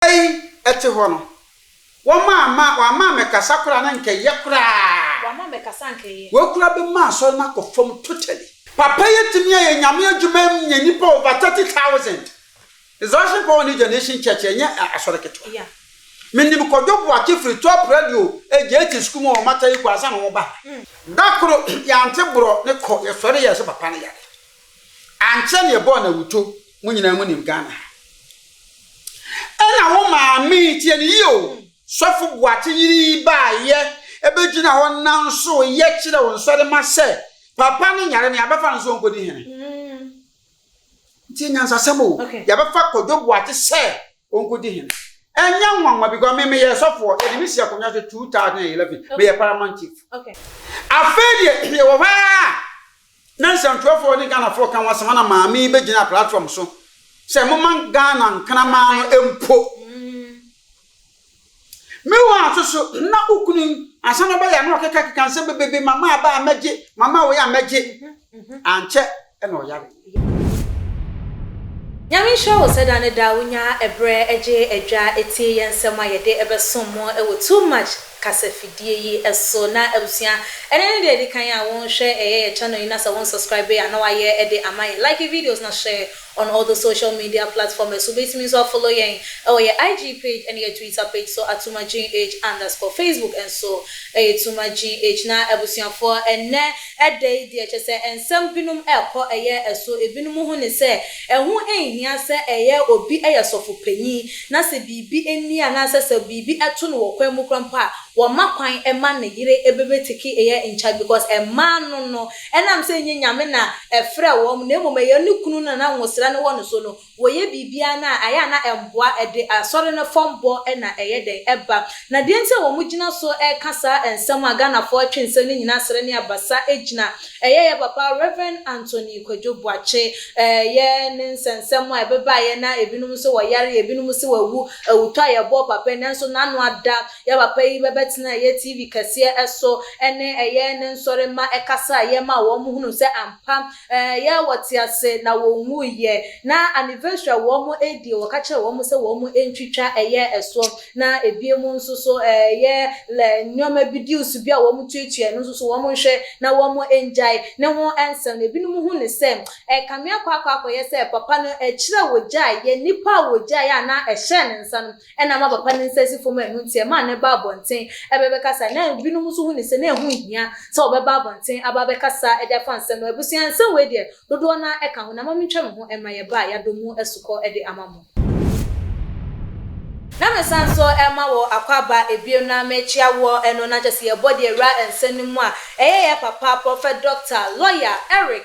Bere a eyi te hɔ no, wɔma ama wɔama ammɛkasa koraa na anka ɛyɛ koraa. Wɔama ammɛkasa anka ɛyɛ. Wei koraa bɛma asɔre no akɔ fam totally. Papa yi atumi ayɛ Nyame adwuma am nya nnipa over thirty thousand. Resurrection Power ne Generation Church ɛnyɛ asɔre ketewa. Yeah. Menim Kwadwo Boakye firi Top Radio JT Sukuu mu wɔ Ɔmata yi kɔ ansa na wɔba ha. Da koro yɛante borɔ ne kɔ, yɛsɔre yɛɛ sɛ papa no yare. Ankyɛ na yɛbɔɔ no awuto, mo nyinaa mo nim Ghana ha. Ɛna wo maame, tie no yie o, Sɔfo Boakye yere yi baayɛ ɛbɛgyina hɔ nanso yɛ kyerɛ wo nsɔre ma sɛ papa no nyare no yɛabɛfa no sɛ ɔnkɔdi hene. Ntie nyansasɛm o, yɛabɛfa Kwadwo Boakye sɛ ɔnkɔdi hene. Ɛnyɛ nwanwa because me meyɛ sɔfoɔ, yɛde me si akonnwa so 2011, meyɛ paramount chief. Afei deɛ yɛwɔ hɔ ara. Na nsɛmtwerɛfoɔ ne Ghanafoɔ ka ho asɛm ana maame yi bɛgyina platform so sɛ momma Ghana nkraman no mpo. Me wo aso so na wo kunu yi ansa na ɔbɛyɛ a na ɔkekakeka nsɛm bebrebe mama aba a mɛgye mama wei a mɛgye ankyɛ na ɔyare. Nyame nhyira wo sɛ da ne da wonya ɛberɛ gye adwa tie yɛn nsɛm a yɛde bɛsom mo wɔ too much kasafidie yi so na abusua ɛnɛ ne deɛ ɛdikan a wo nhwɛ ɛyɛ yɛ channel yi na sɛ wo nsubscribe a na wayɛ ɛde ama yɛn like yɛ videos na share on all the social media platform ɛso wobɛtumi nso afollow yɛn ɛwɔ yɛ IG page ɛne yɛ twitter page so at Tuma GH underscore facebook nso ɛyɛ Tuma GH na abusuafoɔ ɛnɛ Ɛda adi, ɛkyerɛ sɛ nsɛm binom rekɔ ɛyɛ ɛso. Ebinom ho ne sɛ, ɛho nhia sɛ ɛyɛ obi yɛ sɔfo panyin, na sɛ biribi nni anaasɛ sɛ biribi to no wɔ kwan mu koraa mpo a, wɔmma kwan mma ne yere bɛbɛtiki yɛ nkyɛ because mmaa no no, ɛnam sɛ ɛnyɛ Nyame na ɛfrɛɛ wɔn na mmom ɛyɛ ne kunu no na na nwosra no wɔ ne so no, wɔyɛ biribiara no a, ayɛ a na ɛmmoa, ɛde Asɔre no fam bɔ na ɛyɛ dɛn? Ɛba. Na deɛ nti a wɔgyina so reka saa nsɛm a Ghanafoɔ twe nsɛm no nyinaa srɛ ne abasa gyina, ɛyɛ yɛ papa Rev. Anthony Kwadwo Boakye, ɛyɛ ne nsɛnsɛm a ɛbebaeɛ na ebinom nso wɔyare, ebinom se wɔawu, awutɔ a yɛbɔɔ papa yi, nanso n'ano ada, yɛ papa yi bɛbɛtenaa ɛyɛ TV kɛseɛ so ne ɛyɛ ne nsɔremma ɛkasaeɛ maa wɔn hunuu sɛ ampa, Ɛyɛ a wɔte ase na wɔnwuiɛ. Na anniversary a wɔdie, wɔka kyerɛɛ wɔn sɛ wɔntwitwa, ɛyɛ ɛso. Na ɛbinom nso so, ɛyɛ nneɛma bi, deals bi a wɔtuatua, ɛno nso so wɔnhwɛ na wɔngyae. Ne ho nsɛm no, ɛbinom hu no sɛ, ɛkame akɔ akɔ akɔyɛ sɛ papa no, akyire a wɔgyaeɛ, nnipa a wɔgyaeɛ a na ɛhyɛɛ ne nsa no, Ɛnam abapa no nsansi fam annu nti, ɛmaa no baa abɔnten bɛbɛkasa. Ná ebinom nso hu no sɛ na ɛho nhia sɛ wɔbɛba abɔnten aba abɛkasa de afa nsɛm no ho. Abusua, nsɛm wei deɛ, dodoɔ no ara ɛka ho, na mma mentwa me ho mma yɛn ba a yɛadɔ mu asukɔ de ama mo. Na mesan nso rema wo akwaaba bio na merekyea woɔ no, na kyerɛ sɛ yɛbɔ deɛ awura nsɛm no mu a ɛyɛ yɛ papa, Prɔfɛt Dɔkta, Lɔya, Eric.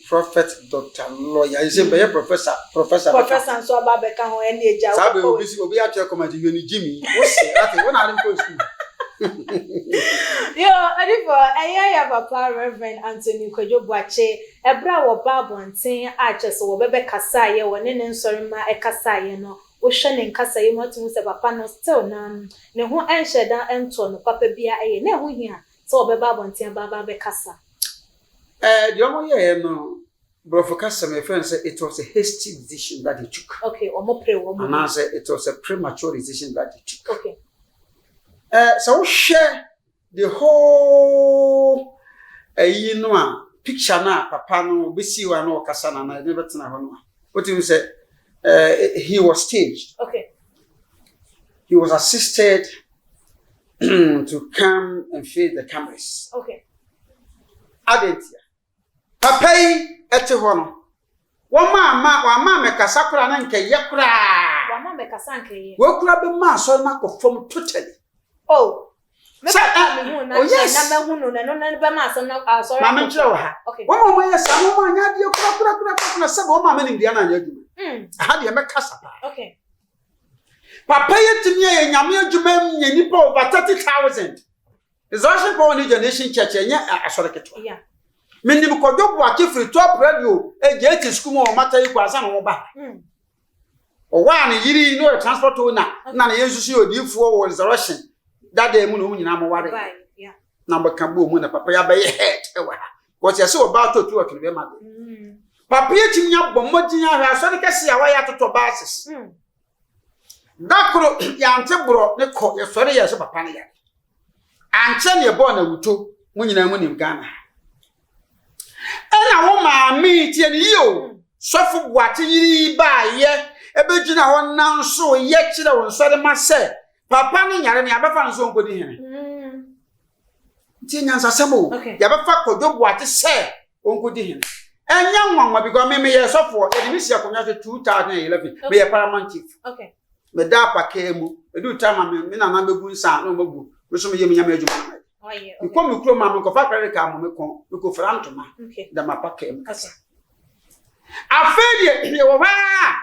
Prɔfɛt Dɔkta Lɔya nso bɛyɛ prɔfɛsa. Prɔfɛsa bɛka ho. Prɔfɛsa nso aba abɛka ho, ɛnne agya. Saa bere obi si obi akyerɛ kɔm agye wieni Jimmy. Wo se ate wo na ade nkɔ sukuu. Yoo ɔdifo ɛyɛ ya papa Rev. Anthony Kwadwo Boakye ɛbere a wɔba abɔnten a kyerɛ sɛ wɔbɛbɛ kasaeɛ wɔne ne nsɔre mma ɛkasaeɛ no wohwɛ ne nkasaeɛ mu ato hu sɛ papa no still nam ne ho ɛnhyɛ da ɛntɔɔ no papa biara ɛyɛ na ɛho hia sɛ wɔbɛba abɔnten aba aba abɛkasa. Eh, deɛ ɔmo yɛɛ no, borɔfo kasa mu yɛfrɛ no sɛ it was a hasty decision that they took. Okay, ɔmo pere wɔn mu. Anaasɛ it was a premature decision that they took. Okay. Eh, sɛ wohwɛ the whole ɛyi eh, no a picture no a papa no bɛsii hɔ a na ɔkasa no anaa ɛde bɛtena hɔ no a wotumi sɛ eh, he was staged. Okay. He was assisted to come and face the cameras. Okay. Adɛn ntia? Papa yi te hɔ no, wɔma ama wɔama mɛkasa koraa na nka yɛ koraa. Wɔama mɛkasa nka yɛ. Wɔkura bɛ ma asɔre na kɔ fam totally. Oh. Mɛkasa ah, mi hu na oh, na mɛ hu no na no na bɛ ma asɔre na asɔre. Maame nkyerɛ wɔ ha. Okay. Wɔn a wɔn yɛ saa wɔn a nyɛ adeɛ kura kura kura kura na sɛbi wɔn a mɛ nim deɛ na nyɛ adwuma. Hmm. Aha deɛ mɛkasa paa. Okay. Papa yɛ tumi yɛ nyame adwuma yɛ nipa over thirty thousand. Resurrection Power New Generation Church ɛnyɛ asɔre ketewa. Menim Kwadwo Boakye firi Top Radio JT sukuu mu wɔ Mata yi kɔ ansa na wɔba. Hmm. Ɔwɔ a ne yiri na ɔyɛ transport owner na ne yɛ nso so yɛ odiifoɔ wɔ Resurrection dada mu na wɔn nyinaa moware. Na bɛka bɔɔ mu na papa yi abɛyɛ head wɔ ha. Wɔte ase wɔ baa tɔtu ɔtwene bɛma de. Hmm. Papa yi atumi abɔ mmɔden ahwɛ asɔre kɛse a wɔayɛ atotɔ bases. Hmm. Da koro, yɛante borɔ ne kɔ, yɛsɔre yɛɛ sɛ papa no yare. Ankyɛ na yɛbɔɔ no awuto, mo nyinaa mo nim Ghana ha. Ɛna wo maame tie ne yie o, sɔfo Boakye yiri yi baayɛ, ɛbɛgyina hɔ nanso yɛ kyerɛ wo nsɔre ma sɛ papa no yare no yɛabɛfa no sɛ ɔnkɔdi hene. Nti nyansasɛm o, yɛabɛfa Kwadwo Boakye sɛ Onkodi hene. Ɛnyɛ nwanwa because me meyɛ sɔfoɔ yɛde me si akonnwa so 2011 meyɛ paramount chief. Okay. Meda apakaa mu edu time a me nana bɛgu nsa na ɔma gu me so meyɛ me nyame adwuma na mayɛ. Mekɔ me kurom a menkɔfa credit card mo mekɔ mekɔfira ntoma da m'apakaa mu kasa. Afei deɛ yɛwɔ hɔ ara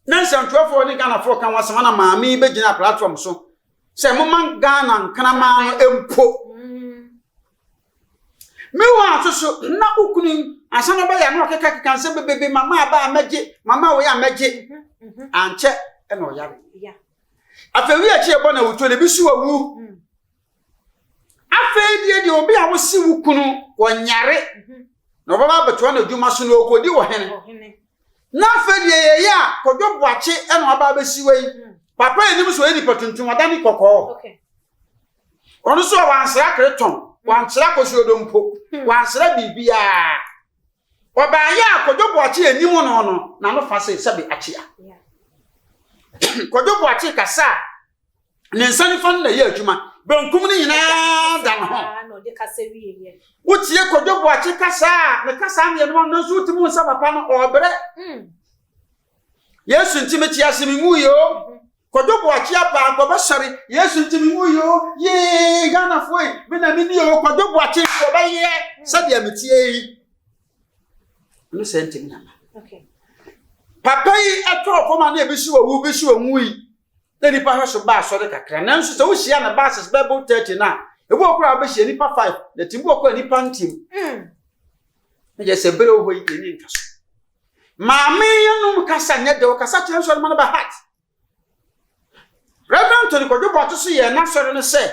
na nsɛntoafoɔ ne Ghanafoɔ ka ho asɛm ana maame yi bɛgyina platform so sɛ moma Ghana nkraman no mpo Meanwhile nso so, na wo kunu yi, ansa na ɔbɛyɛ na ɔkekakeka nsɛm bebrebe, mama aba a mɛgye, mama wei a mɛgye. Ankyɛ na ɔyare. Afei wi akyi ɛbɔ na wutuo na ebi so wawu. Afei deɛ deɛ obi a wosi wo kunu wɔnyare na ɔbɛba abɛtoa no adwuma so na ɔkɔdi ɔhene. Na afei deɛ yɛyɛ a kɔdwo boakye na ɔba abɛsi wei. Papa anim so ɔyɛ nipa tuntum, ɔda ne kɔkɔɔ. ɔno nso a wansra keretɔn wansra kosuodo mpo wansra biribiara ɔbaayɛ a kɔdwo boakye anim no no na no fa se sɛbe akyea kɔdwo boakye kasa a ne nsa nifa no na ɛyɛ adwuma benkum no nyinaa da ne ho wotie kɔdwo boakye kasa a ne kasa mmienu no nso wotumi nsa papa no ɔbrɛ hmm. Yesu nti mete ase menwu yi o. Kwadwo Boakye apaa nkɔbɛ sɔre. Yesu nti menwu yi o. Yee Ghana foe me na meni o. Kwadwo Boakye nkɔbɛ yɛ sɛdeɛ meteɛ yi. Ɛno sɛ nti me ama. Papa yi ɛtɔɔ fam a na ebi si owu bi si onwu yi. Na nipa hwɛ so baa sɔre kakra. Nanso sɛ wohyia na bases bɛbo 30 na ebi wɔ koraa bɛhyia nipa 5 na ti bi wɔ koraa nipa ntim. Mm. Na yɛ sɛ bere wɔ hɔ yi yɛ ne nka so. Maame yenom kasa nyɛ dɛ ɔkasa kyerɛ nsɔre ma no ba heart. Rev. Tony Kwadwo Boakye so yɛɛ n'asɔre no sɛ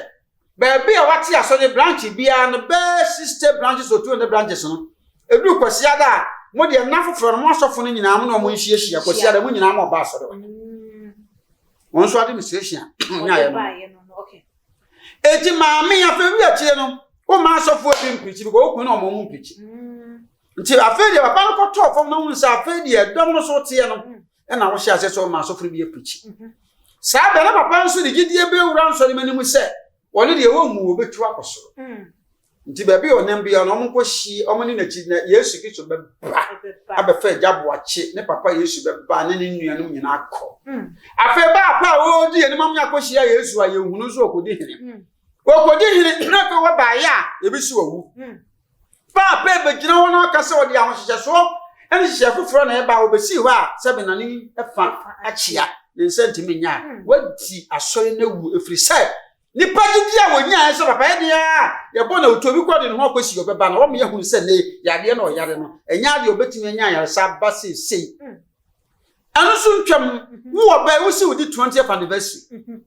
baabi a wate asɔre branch biara no bɛɛ 60 branches or 200 branches no ɛduru Kwasiada a mo deɛ nna foforɔ no mo asɔfo no nyinaa mo ne ɔmo nhyiahyia Kwasiada mo nyinaa mo ɔba asɔre hɔ. Wɔn nso administration a ɔnya ayɛ no. Eti maame afɛ wi akyire no wo ma asɔfo ebi mpirikyi because okun na ɔmo ɔmo mpirikyi. Nti afei deɛ papa no kɔtɔɔ fam na wohu sɛ afei deɛ dɔm no so teɛ no mm. ɛna wohyɛ aseɛ sɛ ɔma asɔfo no bi apirikyi mm-hmm. saa bɛ na papa nso de gyidie bɛwura nsɔre ma no mu sɛ ɔne deɛ wɔnwu wɔbɛtu akɔ soro mm. nti baabi a ɔnam biara no ɔmo hyie ɔmo ne n'akyi na yesu kristo bɛba abɛfa agya boakye ne papa yesu bɛba ne ne nuanom nyinaa kɔ mm. afei baapa a wɔredi yɛn anim akɔhyia yesu a yɛhunu nso ɔkɔdi hene ɔkɔdi hene na afei wɔbaeɛ a yɛbɛsi wɔwu Ba a pɛɛ bɛgyina hɔ na ɔka sɛ ɔde ahohyehyɛsoɔ ne nhyehyɛɛ foforɔ na ɛba a, wɔbɛsii hɔ a sɛ menane fa akyea, ne nsa ntumi nyɛ a, wadi asɔre no awu, ɛfiri sɛ nnipa gyidie a wɔnyaeɛ sɛ papa yɛdeɛ ara a yɛbɔ na ɔtu obi kɔ de ne ho akɔsi ɔbɛba na wɔma yɛahunu sɛ nnɛ yi yadeɛ na ɔyare no ɛnyɛ adeɛ ɔbɛtumi anya ayaresa aba seesei ɛno nso ntwam, wo ɔbaa yi wosi wodi 20th anniversary.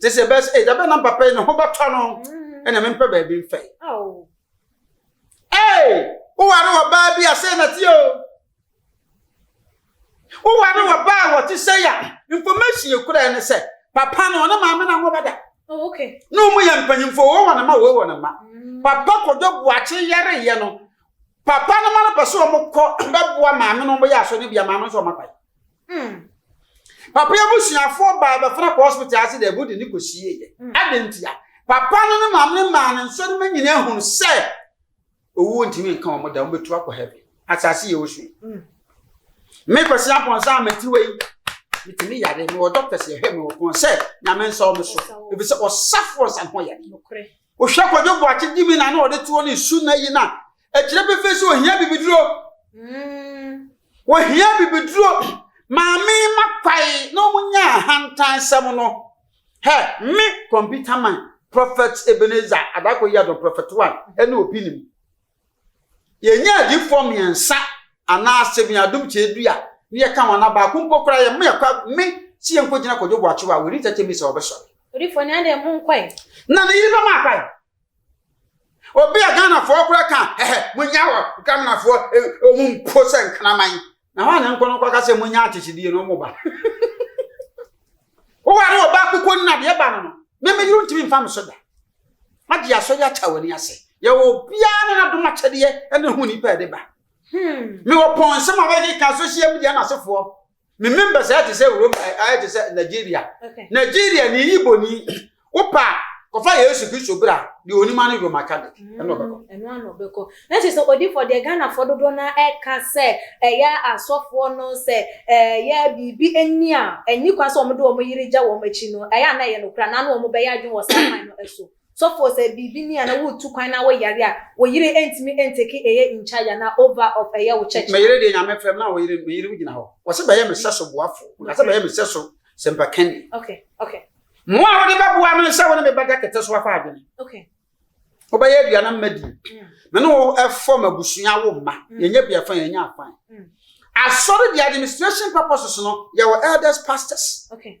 Te sɛ bɛs eh dabe na papa yi ne ho bɛtɔ no ɛna mempɛ baabi mfɛ. Ee woware wɔ baa bi a sɛ na te o. Woware wɔ baa a wɔte sɛ ya information ekura ne sɛ papa no ne maame na ho bɛda. Oh, okay. Na wɔn yɛ mpanyinfo wɔ wɔn mma wɔ wɔn mma. Mm. Papa kɔdɔ buakye yɛre yɛ no papa no ma no pɛ sɛ wɔn kɔ bɛboa maame no wɔn yɛ aso ne bia maame nso wɔn akwae. Hmm. Papa yi abusuafoɔ baa bɛfena kɔ hospital ase dɛ bode ne kɔsieeɛ. Hmm. Adɛn ntia? Papa no ne maame no maa ne nsɔrima nyinaa hunu sɛ owuo ntumi nka wɔn da, wɔbɛtu akɔ heaven. Asase yɛ osu yi. Hmm. Me Kwasi Ampɔnsa a metiwa yi, metumi yare, mewɔ doctors yɛhwɛ me wɔ kɔn sɛ nyame nsa wɔ me so. Ebi sɛ ɔsafoɔ nsa ho yare. Wohwɛ kɔdwo boakye di mi na na ɔde toɔ ne su na yi na Ɛkyerɛ pefee sɛ ohia bibiduro. Ohia bibiduro. Maame ma kwae na wɔn nya ahantansɛm no. Hɛ, me kɔmputa man, Prɔfɛt Ebenezer Adako Yado, Prɔfɛt One, ɛne obi nim. Yɛnyɛ adiifoɔ mmiɛnsa anaa seven adum kyɛ du a ne yɛka wɔn anaa baako mpo koraa yɛ mo yɛkɔ me si yɛnkɔ gyina kɔdwo boakyewa wɔ ne tɛtɛ misa ɔbɛsɔre. Odiifoɔ ne adɛn mo nkɔe. Na ne yere bɛma akwae. obi a ghanafoɔ koraa ka ɛhɛ monya wɔ ghanafoɔ ɔmu mpo sɛ nkraman na hɔ a ne nkɔ no kɔka sɛ monya akyekyedeɛ no ɔmo ba woware wɔ ba koko nna deɛ ba no no mɛmɛyere ntumi mfa me so da magye asɔ yɛ akyɛ w'ani ase yɛwɔ obiara ne nadom akyɛdeɛ ɛne ho nipa ɛde ba hmm. mewɔ pɔn nsɛm a wɔde ka social media no asefoɔ Me member sɛ te sɛ Roma eh, ayɛ te sɛ Nigeria. Okay. Nigeria ni yi boni. Wopa kɔfa Yesu Kristo bra de onima ne Roma ka de. Ɛno mm, ɔbɛkɔ. Ɛno ano ɔbɛkɔ. Na kyerɛ sɛ odifoɔ deɛ Ghanafoɔ dodoɔ no ɛka sɛ ɛyɛ asɔfoɔ no sɛ ɛyɛ biribi ani a ɛni kwan sɛ wɔn de wɔn yere gya wɔn akyi no ɛyɛ a na ɛyɛ no kora na ano wɔn bɛyɛ adwene wɔ saa kwan no so. Sɔfoɔ sɛ biribi ni a na wo tu kwan na wo yare a wo yere ɛntumi ɛntake ɛyɛ in charge anaa over of ɛyɛ wo church no. Me yere deɛ Nyame frɛ me na wo yere me yere wo gyina hɔ wɔ sɛ bɛyɛ me sɛso boafo nka sɛ bɛyɛ me sɛso sɛmpa kani. Okay okay. Moa wode bɛboa me sɛ wo ne me bɛda kɛtɛ so afa adwene. Okay. Wo bɛyɛ aduane mma di. Mm. Me ne wo ɛfɔ mabusua wo mma mm. yɛnyɛ bia fan yɛnyɛ afan. Mm. Asɔre the administration purposes no yɛwɔ elders pastors. Okay.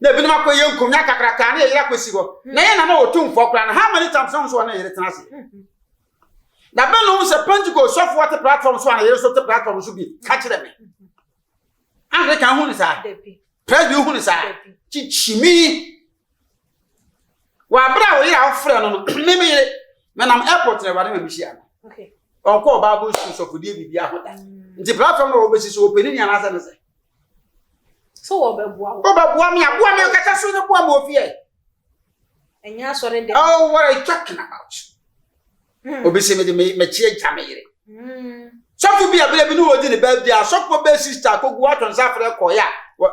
na ebinom akɔyɛ nkum na kakrakaa na yɛyere akɔsi hɔ na yɛn na na ɔtumfoɔ koraa no how many times na nso ɔne yere tena ase na bɛn na ɔhu sɛ pentecost sɔfoɔ te platform so a na yere so te platform so bi ka kyerɛ me anglican hu ne saa presby hu ne saa kyikyimi wɔabrɛ a wɔyere a wofrɛ no no me me yere menam airport na awurade ma mehyia no ɔnkɔɔ bible school sɔfodeɛ biribi ahoda mm. nti platform na wɔbɛsi so ɔpɛni ne anaasɛ ne sɛ So wɔbɛboa wo. Wɔbɛboa me a boa me nkasa so ne boa ma ofi ɛ. Ɛnyɛ asɔre dɛ. Oh, what are you talking about? Hmm. Obi se me de me mɛkyi agya me yere. Hmm. Sɔfo bi abere bi ne wɔdi ne baa bi a sɔfo bɛ sista akogu ato nsa afrɛ kɔ ya.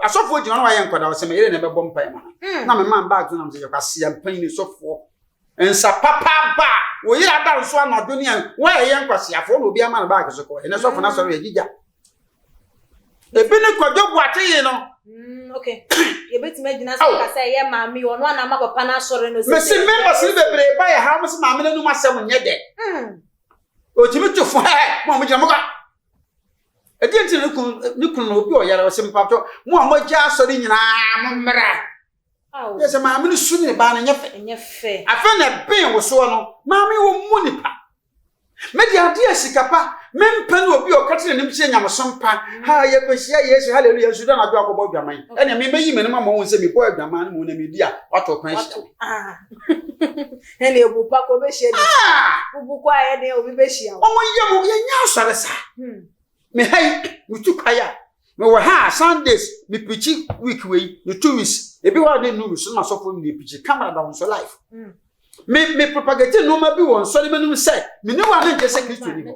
Asɔfo gyina no ayɛ nkɔda ɔsɛ me yere na ɛbɛbɔ mpa ma. Hmm. Na me man baa gyina sɛ yɛkwa se mpan ne sɔfo. Nsa papa ba wo yere ada nso anadwo ne a wɔyɛ nkwasiafo na obi ama no baa so kɔ. Ɛnɛ sɔfo na sɔre yɛ gigya. ebi ne kwadwo buakye yi no. Mm, okay. yɛbɛtumi agyina so ka sɛ ɛyɛ maame yi ɔno anama papa no asɔre no mese members no bebree ba yɛ ha mo se maame no anom asɛm nyɛ dɛ ɔtumi to fo hɛ mo a mogyina moka ɛdeɛ nti ne kunu ne kunu na obi ɔyare ɔsɛ mpatɔ mo a moagya asɔre nyinaa mo mmra yɛ sɛ maame no su ne baa no nyɛ fɛ afei na ɛben wo soɔ no maame wɔ mu nipa Me de ade a sika pa mempɛ ne obi a ɔka kyerɛ n'anim sɛ nyamesom pa ha yɛkɔhyia Yesu hallelujah nso da anadwo akɔbɔ adwaman ɛnea mebɛyi m'anim ama wɔn sɛ mebɔ adwaman no mu na medi a wato kwan hyia me. Ah. Ɛnna ebu pa kɔ bɛhyia bi. Ah! Wobu kɔ a ɛnna obi bɛhyia wo. Wɔn yɛ mo yɛnyɛ asɔre saa. Hmm. Me ha yi metu kwae a mewɔ ha a Sundays mepikyi week wei ne two weeks ebi hɔ a ne nu so na masɔfo ne mepikyi camera da wɔn so live. Hmm. Me me propagate nneɛma bi wɔ nsɔre mɛnum sɛ me ne wɔn a menkyɛ sɛ kristo ni hɔ.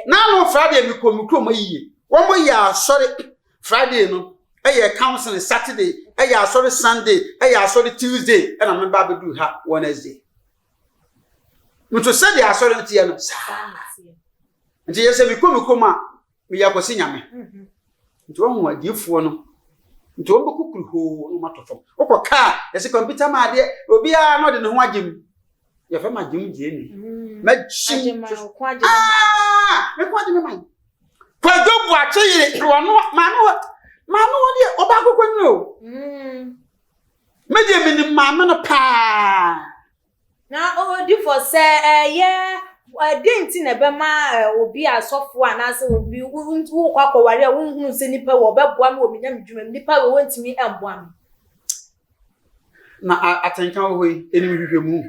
N'ano Friday mi kɔ mi kurom ayie. Wɔn mo yɛ asɔre Friday no ɛyɛ e council Saturday ɛyɛ asɔre Sunday ɛyɛ asɔre Tuesday ɛna me ba abɛdu ha Wednesday. Nso sɛdeɛ asɔre no teɛ no saa. Nti yɛ sɛ mi kɔ mi kurom a meyɛ akwasi nyame nti wahu adiefoɔ no nti wɔn bɛkɔ kuru hoo na wɔatɔ fam wokɔ kaa yɛsɛ kɔmputa ma adeɛ obiara na ɔde ne ho agye mu yɛfɛ ma agye mu gye ni magye mu mekɔ agye me man kwadwo bu akye yere wɔno maame wɔ maame wɔ deɛ ɔba akokɔ nyina o megye menim maame no paa Na odifo sɛ ɛyɛ dɛn nti na ɛbɛma obi a sɔfo anaasɛ obi wokɔ akɔware a wonhunu sɛ nipa wɔ ɔbɛboa me wɔ me nyame dwuma mu nipa wɔ wontumi mboa me. Na atenka wɔ hɔ yi enim hwehwɛ mu.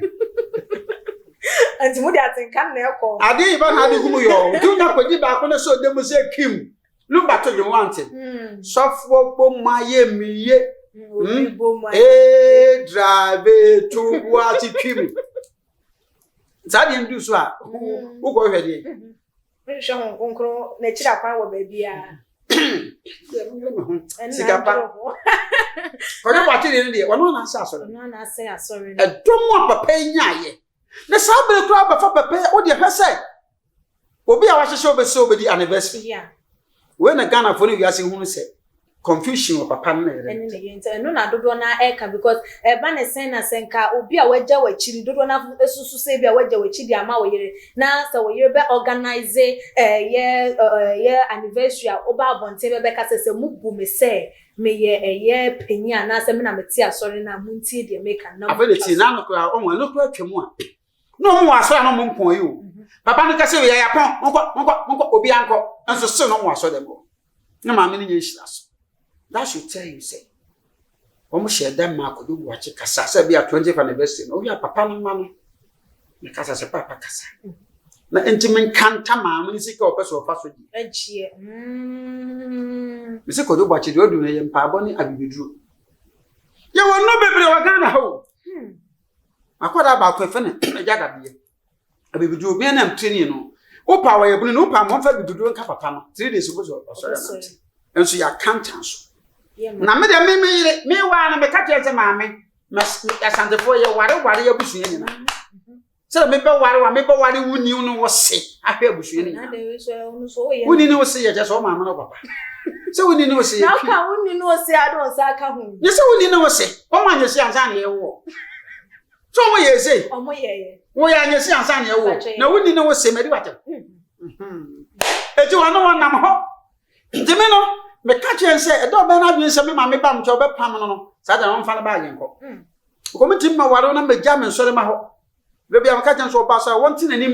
Nti mo de atenka na ɛkɔ. Ade yi ba na ade gu mu yɔ. Otu nya kodi baako ne so ɔda mu sɛ kim. No ba to dwom wante. Hmm. Sɔfoɔ bɔ mu ayɛ mi ye. Hmm, ee drabe to bu ase twi mi. Saa deɛ ndu so a wokɔ hwɛ deɛ. Nhwɛ ho nkonkron n'akyiri akwan wɔ baabi a. Sikapa. Kɔdwe bɔ akyiri no deɛ wɔn na ase asɔre. Wɔn na ase asɔre. Ɛdɔm a papa yi nyaayɛ. Na saa bere koraa bɛfa papa yi o deɛ hwɛ sɛ. Obi a wahyehyɛ obi sɛ obedi anniversary. Yeah. Wei na Ghana fo ne wiase hunu sɛ confusion wɔ papa no na yere no ntam. Nti ɛno na dodoɔ no ɛka because ɛba ne sɛn na sɛ nka obi a wagya w'akyi no dodoɔ no asusu sɛ ebi a wagya w'akyi de ama wo yere na sɛ wo yere bɛ organize ɛyɛ ɛyɛ anniversary a woba abɔnten bɛbɛka sɛ sɛ mo bu me sɛ meyɛ ɛyɛ panyin anaasɛ me na mete asɔre no a montie deɛ meka no na mo ntwa so. Afei de tie na ano koraa ɔho ɛno koraa twam a. No mu asɔre no mu nko yi o. Papa no kɛse yɛ yapɔn nkɔ nkɔ nkɔ obi ankɔ nso se no mu asɔre dɛm o. Ne maame no nyɛ nhyira so. That should tell you say wɔn hyɛ dɛm ma akɔdo buakye kasa sɛ bi a 20th anniversary no obi a papa no ma no ne kasa sɛ papa kasa. Na nti menkanta maame no sika ɔpɛ sɛ ɔfa so di. Agyeɛ. Mese kɔdo buakye deɛ ɔdu no yɛ mpaabɔ ne abibiduro. Yɛwɔ no bebree wɔ Ghana ha o. Akwadaa baako yɛfrɛ no Agya Dadeɛ. Abibiduro bia nam training no. Wopa wɔyɛ bunu no wopa mmɔmfa abibiduro nka papa no. Three days obi sɔ ɔsɔre anante. Nso yɛ akantan so. Na me deɛ me me yere me waa no meka kyerɛ sɛ maame asantefoɔ yɛ ware ware abusua nyinaa. Sɛ mebɛ ware wa mebɛ ware wo ni no wɔ se ahwɛ abusua no nyinaa. Wo ni no se yɛ kyɛ sɛ ɔma amena papa. Sɛ wo ni no se yɛ. Na ka wo ni no se adon sa ka ho. Nyɛ sɛ wo ni no se. Wɔn anyɛ si ansa na yɛwɔ. So wɔn yɛ ese. Wɔn yɛ yɛ. Wɔn yɛ anyɛ si ansa na yɛwɔ. Na wɔn ni ne wɔn se mɛ di wa tɛm. Eti wɔn ne wɔn nam hɔ. Nti mi no mɛ ka kyerɛ nsɛ ɛdɛ ɔbɛn na adwene nsɛ mi ma mi ba mu kyɛ ɔbɛ pam no no saa da na wɔn fa no ba ayɛ nkɔ. Kɔmi ti mi ma wɔre na mɛ gya mi nsɔre ma hɔ. Berɛ bi a meka kyerɛ no sɛ ɔbaa sɛ wɔnte n'anim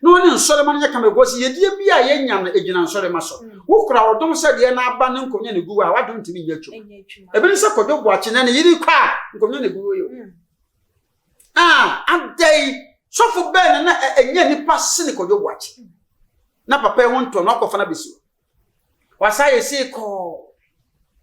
na ɔne nsɔrema no nyɛ kama ɛkɔ si yɛdeɛ bi a yɛnya no ɛgyina nsɔrema so. Mm. Wo kura ɔdom sɛ deɛ n'aba ne nkonnwa ne guo a w'adom ntumi nyɛ adwuma. Ebi ne sɛ Kwadwo Boakye ne ne yere kɔ a nkonnwa ne guo yɛ. Mm. Ah, adɛn sɔfo bɛn na ɛnyɛ nipa sene Kwadwo Boakye. Mm. Na papa yi ho ntɔ na ɔkɔfa no abɛsi hɔ. Wasa yɛ sei kɔɔ.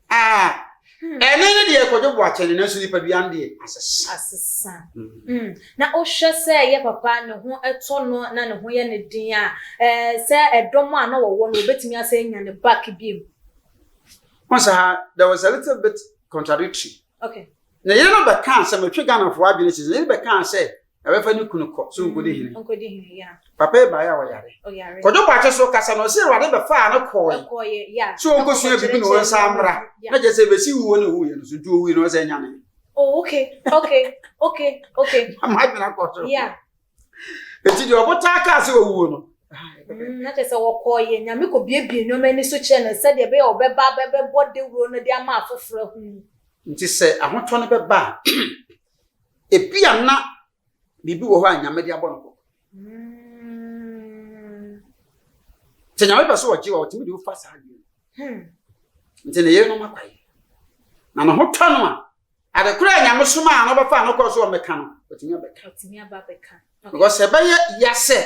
Ah, ɛne ne deɛ kɔdwo bo akyɛne nanso nipadua no deɛ asesa. Asesa. Mm. Mm. Na wohwɛ sɛ yɛ papa ne ho ɛtɔ no na ne ho yɛ ne den a, ɛɛ eh, sɛ ɛdɔm a na wɔwɔ no wɔbɛtumi asɛ anya ne back bi mu. Wɔn sɛ ha, there was a little bit contradictory. Okay. Na yɛn no bɛka sɛ metwe Ghanafoɔ adwene sɛ yɛn bɛka sɛ ɛbɛfa ne kunu kɔ so nkɔdi hene nkɔdi hene ya papa yi baeɛ a ɔyare ɔyare kɔdwo bɔakye so kasa na ɔsɛ awurade bɛfaa no kɔe ɛkɔɔyɛ ya sɛ ɔnkɔsua biribi na ɔnsa mmra na kyɛ sɛ bɛsi wuo ne wuiɛ no so nti ɔwui no ɔsɛ nyane oh okay okay okay okay madwena kɔ so ya ɛti deɛ ɔbotaa kaa sɛ ɔwuo no Mm, na kyerɛ sɛ wɔkɔɔyɛ nyame kɔbiebie nneɛma ani so kyerɛ no sɛdeɛ ɛbɛyɛ ɔbɛba bɛbɛbɔ dawuro no de ama afoforɔ ahunu nti sɛ ahotɔ no bɛba a ebia na biribi wɔ hɔ a nyame de abɔ no kɔkɔ sɛ nyame pɛ sɛ ɔgye wa ɔtumi de wofa saa deɛ hmm. nti ne yere no ma kwae na ne ho tɔ no a adekora a nyame soma a no bɛfa no kɔ so ɔmɛka no ɔtumi abɛka Because ɛbɛyɛ ya sɛ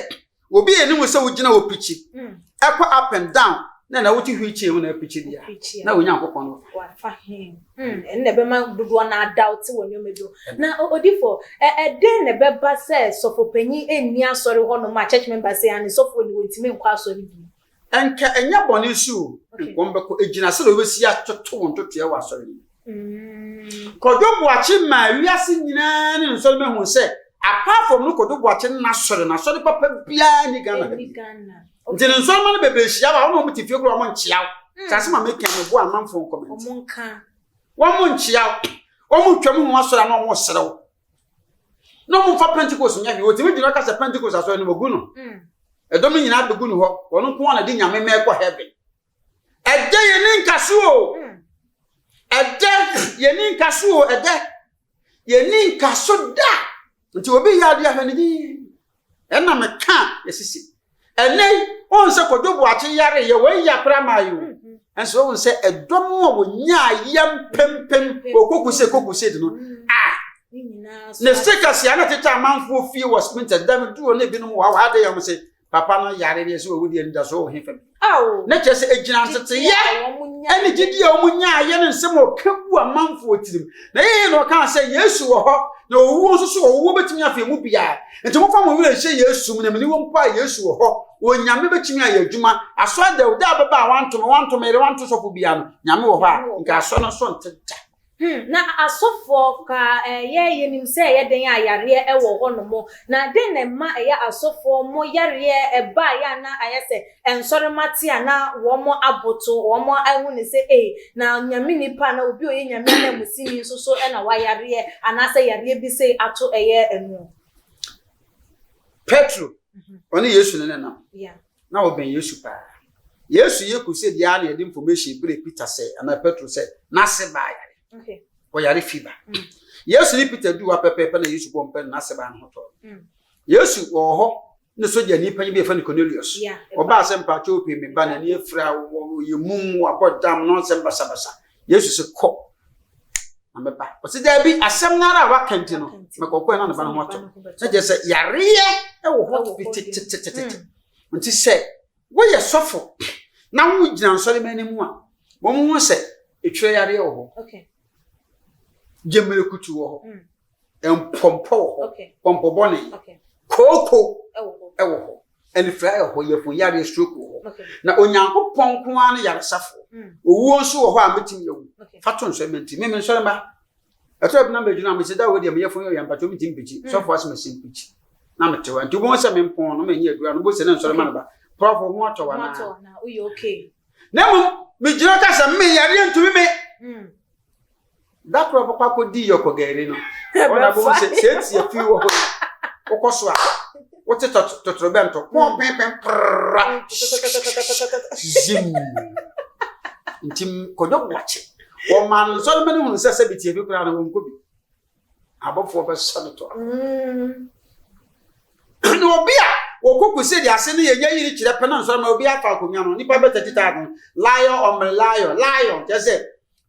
obi a anim sɛ wogyina hɔ pikyi hmm. ɛkɔ up and down na na wote wheelchair mu na apikyi bia na onyankopɔn no wafa hmm. hmm. ɛno na ɛbɛma dodoɔ no adawte wɔ nneɛma bi na odifo ɛdɛn na ɛbɛba sɛ sɔfo panyin ɛnni asɔre hɔ nom a church member sɛ ane sɔfo ne wɔntumi nkɔ asɔre bi Ɛnka ɛnyɛ bɔne nso o, ɛnka wɔn bɛkɔ. Egyina sɛ deɛ wɔbɛsi atoto wɔn ntotoɛ wɔ asɔre no mu. Mm. Kwadwo Boakye maa wiase nyinaa ne nsɔre bɛhu sɛ apart from no Kwadwo Boakye no n'asɔre no, asɔre papa biara ni Ghana ha bi. Nti ne nsɔre ma no bebree hyia wɔ a wɔn te fie koro wɔn nkyea wo. Mm. Sase ma meka no bo amanfoɔ nkɔmɛnti. Wɔn nka. Wɔn nkyea wo. Wɔn twam ho asɔre a na wɔn serew. na ɔmo nfa pentecost nyɛ hwee wɔtumi gyina ɔka sɛ pentecost asɔre no wɔgu no mm. ɛdɔm no nyinaa bɛgu no hɔ wɔn nko a na de nyame mɛ kɔ heaven ɛdɛ yɛne nka so o mm. ɛdɛ yɛne nka so o ɛdɛ yɛne nka so da nti obi yɛ adeɛ ahwɛ ne din Ɛna me ka yɛ sisi. Ɛnɛ yi, ohun sɛ Kojo Boakye yare yɛ wɔn ya koraa maa yi o. Nso ohun sɛ ɛdɔ no a wɔnyaa yɛ mpempem wɔ Koku Sɛ Koku Sɛ no, ah, ne se kɛse a na tete amanfoɔ fie wɔ Spintex, da me duro ne binom wɔ ha wɔ ha de yɛ wɔn se, papa no yare deɛ sɛ wɔwu deɛ anidasoɔ wɔ he fam. na kyerɛ sɛ ɛgyina nteteeɛ ne gyidie a wɔn nyaayɛ ne nsɛm a ɔka gu amanfoɔ tirim na yɛyɛ na ɔkaa sɛ yesu wɔ hɔ na owuo nso so owuo bɛtumi afei mu biara nti mofa mo werɛ nhyɛ yesu mu na mene wɔ mpo a yesu wɔ hɔ onyame bɛtumi ayɛ adwuma asɔ dɛw da bɛba a wanto me wanto me yere wanto sɔfo biara no nyame wɔ hɔ a nka asɔ no so nteta Hmm, na asɔfoɔ koraa eh, yɛ yɛnim sɛ ɛyɛ dɛn a yareɛ ɛwɔ hɔ nom, na dɛn na ɛma ɛyɛ asɔfoɔ mo yareɛ ɛba a yɛ a na ayɛ sɛ ɛnsɔre ma te a na wɔn aboto, wɔn ahu no sɛ ei, na Nyame nipa anaa obi a ɔyɛ Nyame ananmusini nso so na wayareɛ anaasɛ yareɛ bi sei ato ɛyɛ ɛno. Petro, ɔne Yesu ne nenam. Yeah. na ɔbɛn Yesu paa. Yesu yɛ crusade yi ara na yɛde information brɛɛ Peter sɛ anaa Petro sɛ n'ase baa yare. Ɔyare fever. Mm. Yesu ne Peter duu hɔ pɛpɛɛpɛ na Yesu bɔ mpae na n'ase baa no ho tɔɔ. Mm. Yesu wɔ hɔ ne sogya ni panyin bi yɛfrɛ no Cornelius. Ɔbaa sɛ mpakyɛ ope me ba n'ani afira wɔ yɛ mum wɔ abɔ dam nɔnsɛm basabasa. Yesu se, Kɔ, na mɛba. Ɔse, daabi, asɛm no ara a waka nti no, mɛkɔkɔ na ne ba no ho atɔ. Sɛ gyɛ sɛ yareɛ wɔ hɔ bi tetetetete. Nti sɛ woyɛ sɔfo na wogyina nsɔre ma anim a, wɔn ho sɛ etwerɛ yareɛ wɔ hɔ. Gyemmerekutu wɔ hɔ. Mm. Mpɔmpɔ wɔ hɔ. Pɔmpɔ bɔne. Kooko wɔ hɔ. Anifere ayɛ hɔ, yɛpon yareɛ, stroke wɔ hɔ. Na Onyankopɔn nko ara ne yaresafo. Mm. Owuo nso wɔ hɔ a metumi awu. Fa to nsɔre menti. Me mensɔre mma. Ɛtɔ bi na megyina a mesi da wɔ deɛ meyɛ fo yɛ mpakyɛ metumi mpikyi. Mm. Sɔfo ase mesi mpikyi. Na metewa. Nti wobɛhu sɛ mempɔn no menyɛ adura no bose ne nsɔre ma meba. Prɔfo ho atɔ wa na. Na mmom megyina ka sɛ me yareɛ ntumi me. Mm. da koro a ɔbɛkɔ akɔdi yɛ ɔkɔgari no ɔna bɛhu sɛ sɛ ɛti afi wɔ hɔ wokɔ so a wote totorobɛnto hmm. pɔmpɛmpɛn prra zim nti kɔdɔ boakye wɔma no nsɔre ma no hunu sɛ sɛ bitie bi koraa no wɔnkɔ bi abɔfoɔ bɛsɔ no tɔ hmm. ne obi a wɔkɔku sɛ de ase no yɛnya yiri kyerɛ pɛ no nsɔre ma obi afa akonnwa no nnipa bɛtatitaa no lion ɔmmerɛ lion lion kyɛ sɛ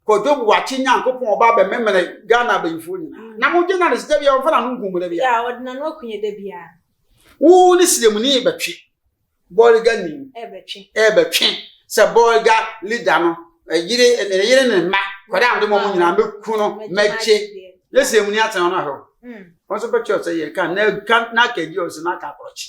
Kojo Buakye Nyankopɔn ɔba abɛmemene Ghana abayifoɔ nyinaa. Mm. Na mogye na ne sika biara ɔmfa n'ano nkum da biara. Ɔde n'ano akunyɛ da biara. Wo ne siremuni bɛtwe bɔɔliga ni ɛbɛtwe sɛ bɔɔliga lida no yere ne yere ne mma kɔda ande mɔmu nyinaa mɛku no mɛgye ne siremuni atena ɔno ahwɛ wɔn nso bɛtwe ɔsɛ yɛ ka na ka na ka di ɔsɛ na ka akorɔkye.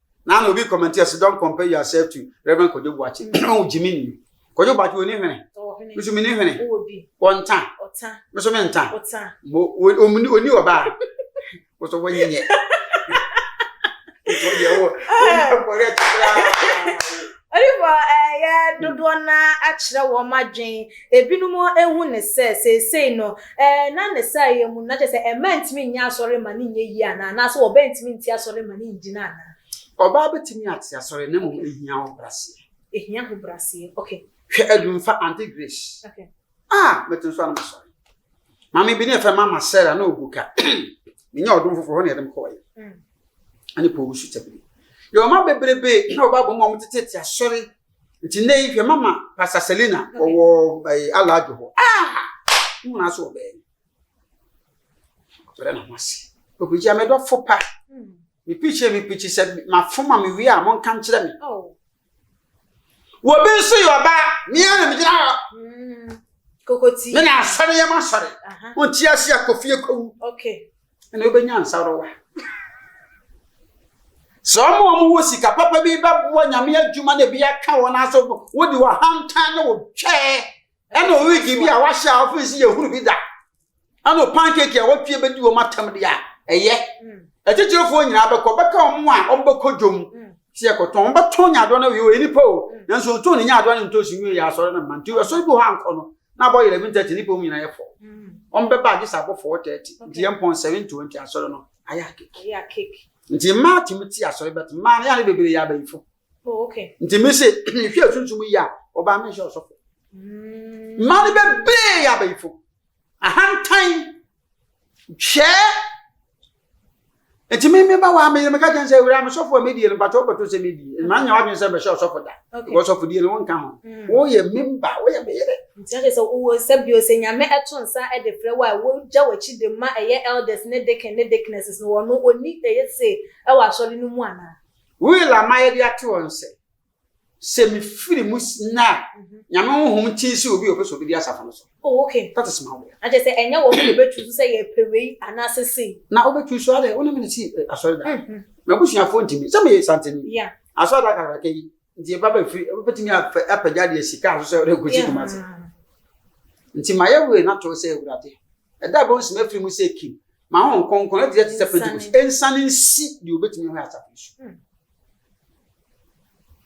na ana obi comment here so don't compare yourself to reverend kojo buachi no jimmy ni kojo buachi oni hene misu mini hene wɔnta misu mi nta omuni oni ɔbaa wɔsɔ wɔnyi nyɛ wɔyɛ wɔ wɔyɛ kɔrɛ kyerɛ. Nnipa a ɛyɛ dodoɔ no ara akyerɛ wɔn adwene. Ebinom hu no sɛ seesei no, ɛnna ne saayɛ mu, na kyerɛ sɛ mmaa ntumi nyɛ asɔre mma no nyɛ yie anaa? Anaasɛ ɔbaa ntumi nte asɔre mma no ngyina anaa? Ɔbaa bɛtumi ate asɔre na mmom ɛhia ahobraseɛ. Ɛhia ahobraseɛ, okay. Hwɛ Adwumfa, Auntie Grace. Okay. Ah, mɛte nso anam sɔre. Maame bi ne ɛfɛ mama Sarah na ogu ka. Menya ɔdom foforɔ hɔ na yɛde me kɔɔyɛ. Ɛne Paul wusu tabiri. Yɛ ɔma bebrebe na ɔba bɔ mu a wɔtetete asɔre. Nti nnɛ yi hwɛ mama Pastor Selena ɔwɔ ɛɛ alaadwo hɔ. Ah! Mo nyinaa so ɔbɛn. Ɔbɛrɛ na mo ase. Obegya mɛdɔfo pa. Me pikyi me pikyi sɛ mafoma me wie a monka nkyerɛ me. Obi nso yɛ ɔbaa, mmea na megyina hɔ. Mm, kokoti. Me na asɔre yɛ m'asɔre. Wonte ase a kofie kowu. Okay. Ɛna wobɛnya nsarowa. Sɛ ɔmo ɔmo wɔ sika papa bi bɛboa nyame adwuma na ebi aka wɔn aso wode wɔ hantan ne wɔ twɛɛ Ɛna ɔredi bi a wahyɛ a ɔfiri si yɛ hunu bi da. Ɛna ɔpan keeki a wɔtwe bɛdi wɔn atam deɛ a ɛyɛ. Atitirifoɔ nyinaa bɛkɔ bɛka wɔn a wɔbɛkɔ dwom sɛ yɛkɔtɔn. Wɔbɛtɔn nyaadoɔ no awie ɔyɛ nipa o. Nanso ɔtɔn ne nyaadoɔ ne ntoosi nwie yɛ asɔre no mma. Nti asɔre bi hɔ ankɔ no na abɔ 11:30 nipa mu nyinaa yɛ fɔ. Wɔbɛba agye sɛ abɔ 4:30 nti yɛn pɔn 7:20 asɔre no ayɛ akeke. Nti mmaa tumi te asɔre bɛt mmaa no yɛ a ne bebree yɛ abayifo. Oh, okay. Nti mi se mehwɛ sunsun yi a ɔbaa mi nhyɛ ɔsɔfo. Mm. Mmaa no bebree yɛ abayifo. Ahantan twɛɛ nti mi mi ba wa mi mi ka kyɛn sɛ ewura mi sɔfo a mi die no bàtɔ bàtɔ sɛ mi die mmaa nyɛ wadwene sɛ bɛhyɛ ɔsɔfo da wɔ sɔfo die no wɔn nka ho mm. wɔn yɛ mi mba wɔn yɛ mi yɛrɛ. nti ɛkyɛ sɛ wɔ sɛ bi ɔsɛ nyame ɛto nsa ɛde fira wa wɔn gya wɔ akyi de ma ɛyɛ elders ne deacon ne deaconesses no wɔn no oni ɛyɛ se ɛwɔ asɔre no mu anaa. Will ama yɛde ato hɔ no sɛ, Sɛ mefiri mu nnɛ a, Nyame honhom kyin sɛ obi a ɔpɛ sɛ ɔbɛdi asafo no so. Oh, ok. That is my will. Na kyerɛ sɛ ɛnyɛ wɔn na wɔbɛtu so sɛ yɛpɛ wei anaasɛ sei. Na wobɛtu so adɛ, wo ne me na si eh, asɔredan. Mhm. M'abusuafoɔ ntumi. Sɛ meyɛ santani. Yeah. Asɔredan kakraka yi, nti ɛba bɛ firi, wobɛtumi apɛ- apagya deɛ sika so sɛ wode nkɔsi Yeah. Kumasi. Nti mayɛ wei no ato hɔ sɛ Awurade, ɛda a bɛhu sɛ mafiri mu sɛ Kim, Ma Honhom Kronkron ɛte te sɛ Pentekost ɛnsane nsi deɛ obɛtumi hɔ asafo su. Hmm.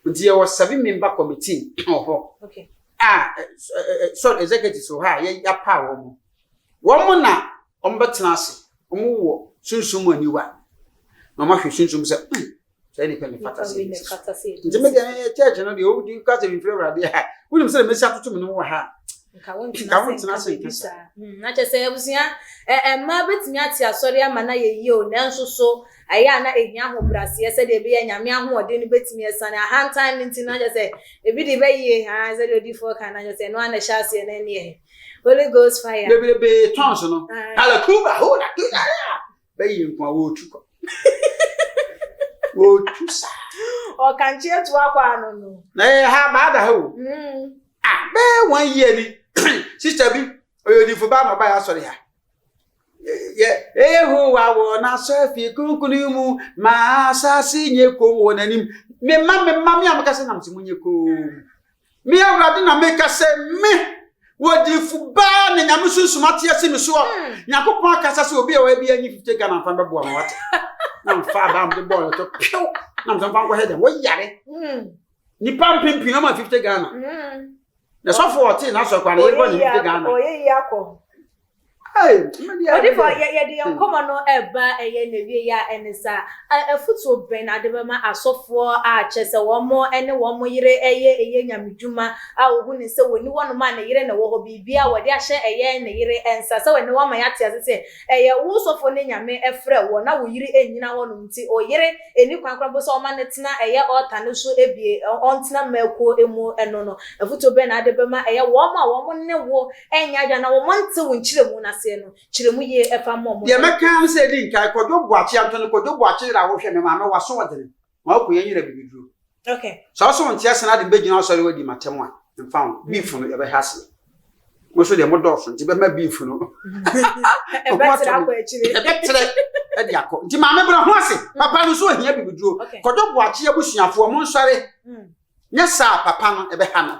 Nti yɛwɔ seven member committee wɔ hɔ a sɔre executives wɔ hɔ a yɛapa wɔn mo. Wɔn mo na wɔn bɛtena ase, wɔn wɔ sunsun mu aniwa na wɔn ahwɛ sunsun sɛ hmm, sɛ nipa mi fata sɛ ebi fata sɛ ebi nti mi deɛ ɛyɛ church no deɛ ɔwɔ di nka sɛ nfiri awurade ha wuli mi sɛ mesi atoto mi no wɔ ha nka wɔn ntena se nka sa. na kyerɛ sɛ abusua ɛmma betumi ate asɔre ama na yɛ yie o nanso so ɛyɛ a na ehia ahobraseɛ sɛdeɛ ebi yɛ nyame ahoɔden no betumi ɛsan ahantan no nti na kyerɛ sɛ ebi de bɛyie ha sɛdeɛ odifoɔ kan na kyerɛ sɛ ɛno a na ɛhyɛ aseɛ na ɛneɛ holy ghost fire. bebrebe tɔn so no alakuba ho na kuba. bɛyɛ nko a wɔretu kwa wɔretu sa. ɔkankye atu akɔ ano no. na yɛ ha baada ha o. Mm. a bɛyɛ wɔn yie ni sista bi ɔyɛ odifo baa na ɔbaa yɛ asɔre ha yɛ ehowa wɔ n'asɔrfi kunkuni mu ma asase nye kom wɔ n'anim mema mema me a mekasa nam se mo nye kom Me Awurade na meka sɛ, Me! Wɔ adiyifo baa na Nyame sunsum ate asi me so a, hmm. Nyankopɔn akasa sɛ obi a ɔyɛ bi anyi 50 Ghana mfa bɛboa ma wate. Na mfa abaa mde bɔɔ no to pew na mfa mfa nkɔhɛ dɛm wɔyare. Hmm. Nipa mpempem ama 50 Ghana. Hmm. Na sɔfo ɔte na sɔkwa na yɛbɔ ne 50 Ghana. Ɔyɛ yi akɔ. ɔdifo yɛde yɛn nkɔmɔ no ɛba ɛyɛ na wie yɛ a ɛne sa afutuo bɛn na ade bɛma asɔfoɔ a kyɛ sɛ wɔn ɛne wɔn yere ɛyɛ ɛyɛ nyame dwuma a wɔhu ne sɛ wɔni wɔnom a ne yere na wɔhɔ biribi a wɔde ahyɛ ɛyɛ ne yere ɛnsa sɛ wɔne wɔama yɛate ase sɛ ɛyɛ wo sɔfoɔ ne nyame ɛfrɛ wɔ na wo yere ɛnyina hɔnom nti ɔyere ɛni kwan kora mpo sɛ ɔma no tena ɛyɛ ɔɔta no so ɛbie ɔntena mmakuo ɛmu ɛno no afutuo bɛn na ade bɛma ɛyɛ wɔn a wɔn ne wo Ɛnyɛ adwene na wɔn ntew nkyerɛmu no aseɛ no kyerɛmu yie ɛfa mmɔ mo. Deɛ mɛka ara ne sɛ ɛdi nkan, Kwadwo Boakye Antony, Kwadwo Boakye yere a wohwɛ me maame w'aso ɔdene, ma wo konya nyina bibiduro. Okay. Sɛ wo so wonte ase na ade bɛgyina wo sɔre w'adi matɛm a, mfa wo, beef no yɛbɛhɛ aseɛ. Mo so deɛ mo dɔɔso nti bɛma beef no. Ɛbɛtrɛ akɔ akyire. Ɛbɛtrɛ ɛde akɔ. Nti maame bra ho ase, papa no so ohia bibiduro. Kwadwo Boakye abusuafoɔ mo nsɔre, nyɛ saa a papa no ɛbɛha no.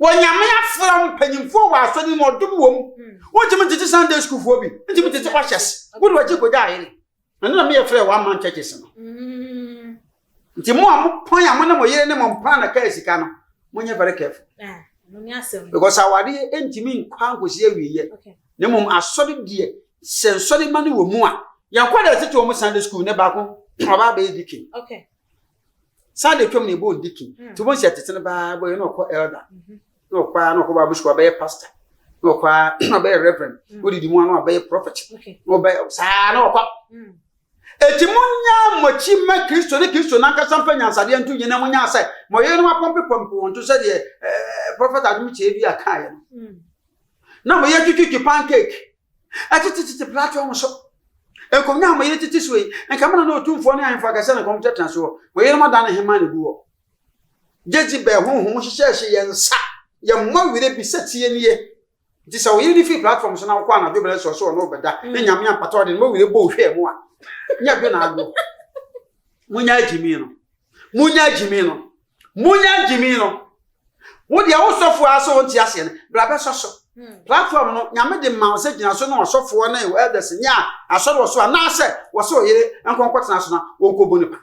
Wɔ Nyame afra ho mpanyimfoɔ wɔ asɔre mu ɔdom wɔ mu. Hmm. Wontumi ntete Sunday schoolfoɔ bi. Wontumi ntete ɔhyɛs. Wode wagye kogya ayɛ ne. Ɛno na meyɛ frɛ one man churches no. Hmm. Nti mo a mopɔn a mo ne mo yere ne mo mpaa na kaa sika no, monyɛ very careful. Ah, Because awadeɛ ntumi nkɔ ankɔsi awieɛ. Na mmom asɔre deɛ sɛ nsɔre ma no wɔ mu a, yɛnkɔ dɛ ɛtete wɔ mo Sunday school ne baako ɔbaa bɛyɛ dikin. saa de twam na ɛbɔ ndiki mm. nti wobɛhu sɛ tete no baa bɔyɛ na ɔkɔ elder mhm. na ɔkɔ a na ɔkɔ bible school abɛyɛ pastor na ɔkɔ a na ɔbɛyɛ reverend mm. wodidi mu a na ɔbɛyɛ prophet na ɔbɛyɛ saa na ɔkɔ mm. eti mo nya mɔkyi mɛ kristo ne kristo nankasa mpa nyansadeɛ nto nyina mo nya sɛ mɔyɛ no apɔmpe pɔmpe wɔn to sɛdeɛ ɛɛ eh, prophet adum kyerɛ bi a kaa yɛ no na mɔyɛ twitwitwi pancake ɛtete tete platform no so. Nkonnwa a mo yere tete so yi, nka mo na na otumfoɔ ne ahemfo akɛse a na nkɔm tenatena so hɔ. Mo yerenom adan ne hemmaa na egu hɔ. Jezebel honhom hyehyɛɛ hyɛ yɛn nsa, yɛn mma werɛ bi sɛ tie nie. Nti sɛ wo yere no firi platform so na wokɔ anadwo berɛ nso ɔsɛ ɔne wo bɛda, na nyame ampata ɔde ne ma werɛ bɔ wo hwɛɛ mu a, nyɛ dwo na agorɔ. Monyaa gyimii no. Monyaa gyimii no. Munya gyimi no. Wo deɛ wo sɔfoɔ ara sɛ ɔnte aseɛ no, bra bɛsɔ so. Hmm. Platform no, nyame de ma wo sɛ gyina so ne ɔsɔfoɔ ne elders ne a asɔre wɔ so anaasɛ wɔ sɛ ɔyere nkɔnkɔtena so na wɔnkɔbu ne pa.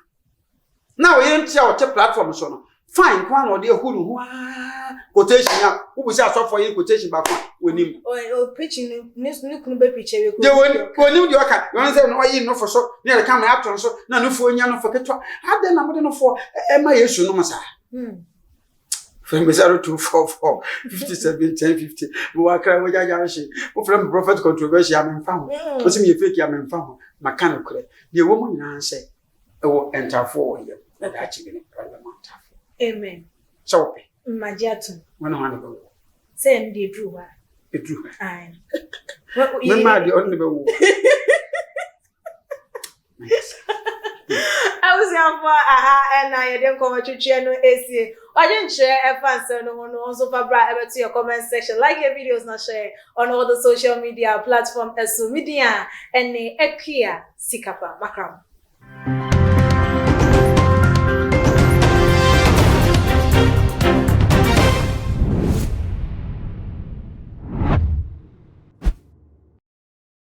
Na ɔyere nte a ɔte platform so no, fine nko a na ɔde ahu ne ho aa quotation a wobu sɛ asɔfoɔ yɛ quotation baako a wɔnim deɛ wɔnim deɛ ɔka yɔne sɛ ɔyi nofo so ne yɛde ka ma ato no so na nofoɔ nya nofo ketewa adɛn na mode nofoɔ ɛma yesu nom saa fɛn bɛ sáré two four four fifty seven ten fifty mo wá kára mo jájá ṣe mo fẹrẹ mo prophet controversial mi nfa ho mo sì mi yẹ fake mi nfa ho mà ká nìkorẹ deɛ wọ́n mu nyinaa sẹ́ ɛwɔ ntafoɔ wɔ yam na daakye bi no ɛwɔ bɛma ntafoɔ amen sɛ wopɛ mmagye atom wɔne hɔ ne bɛwɔ sɛ ɛno deɛ ɛduru hɔ a ɛduru hɔ mema deɛ ɔne ne bɛwɔ abusuafoɔ aha ɛna yɛde nkɔmɔ twitwiɛ no esie ɔgye nkyerɛ ɛfa nsɛm no ho no nso fa bra ɛbɛto yɛ comment section like yɛ videos na hyɛ ɔno ɔdo social media platform ɛso media ɛne ɛkua sika pa makra mo.